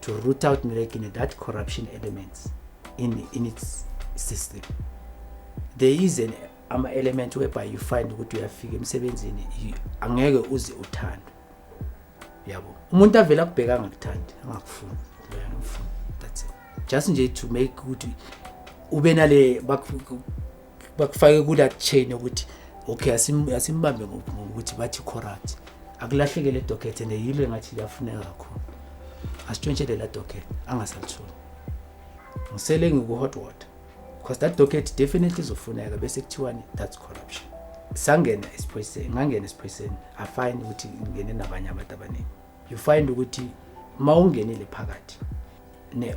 to root out Nirekine that corruption elements in, in its system. There is an ama element whereby you find ukuthi uyafika emsebenzini angeke uze uthande yabo umuntu avela kubheka angakuthandi angakufuni leyana umfuni that's it just nje to make ukuthi ube nale bakufake kula chain ukuthi okay asimbambe ngokuthi bathi corrupt akulahleke le docket and yilo engathi liyafuneka kakhulu asitshontshele la docket angasalitholi ngisele ngiku-hot water because that docket definitely izofuneka bese kuthiwani that's corruption sangena esiphoyiseni ngangena esiphoyiseni afine ukuthi ngingene nabanye abantu abaningi you find ukuthi uma ungenile phakathi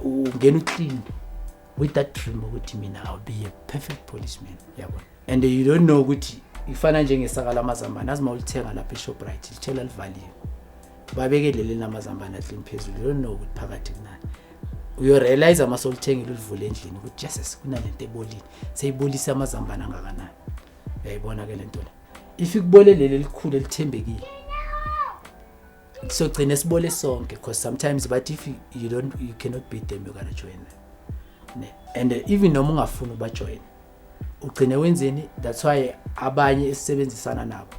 ungena uclean with that dream ukuthi mina i'll be a perfect policeman yabona and you don't know ukuthi ifana njengesaka lamazambane azi mawulithenga lapha eshoprite lithela livaliwe babeke leli namazambane ahlini phezulu you don't know ukuthi phakathi kunani uyorealize uma solithengile ulivule endlini ukuthi jesus kunalento ebolile seyibolise amazambane angakanani uyayibona ke lento la if ikubole leli elikhulu elithembekile sogcina sibole sonke because sometimes but if you don't you cannot beat them you gotta join them ne and uh, even noma ungafuni ubajoin ugcine wenzeni that's why abanye esisebenzisana nabo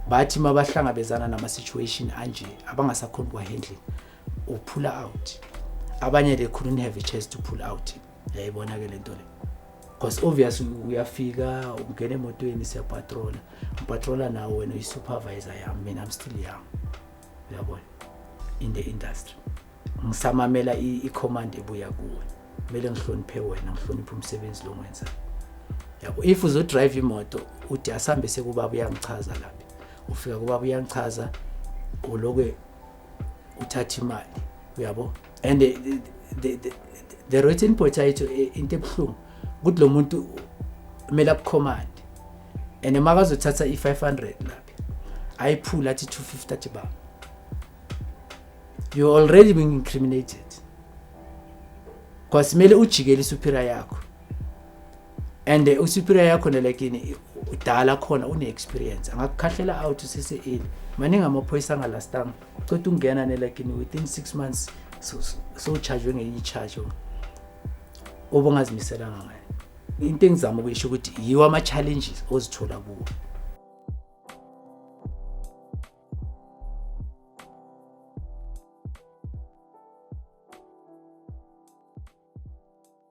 bathi mabahlangabezana nama situation anje abangasakhona kwa handling uphula out abanye they couldn't have a chance to pull out yayibona ke lento le because obvious uyafika ungena emotweni siyapatrola ngipatrola nawo wena uyi-supervisor yami mina i'm still young uyabona in the industry ngisamamela i-command ebuya kuwe kumele ngihloniphe wena ngihloniphe umsebenzi lo ngwenzayo yabo if uzodrive imoto uthi asambe sekubaba uyangichaza lapha ufika kubaba uyangichaza uloke uthatha imali uyabo and the, the, the, the rotten potato eh, into ebuhlungu ukuthi lo muntu kumele akucommand and makazothatha i-500 lapha ayiphula athi 250 athi baba you already being incriminated because kumele ujikele isupira yakho and eh, usuperior yakho nele kini udala khona une-experience angakukhahlela out usese eli maningi amaphoyisa angalastanga cotha ungena nele kini within six months sowuchajwe ngenye i-charge obongazimiselanga ngayo into engizama ukuyisho ukuthi yiwo ama-challenges ozithola kuwo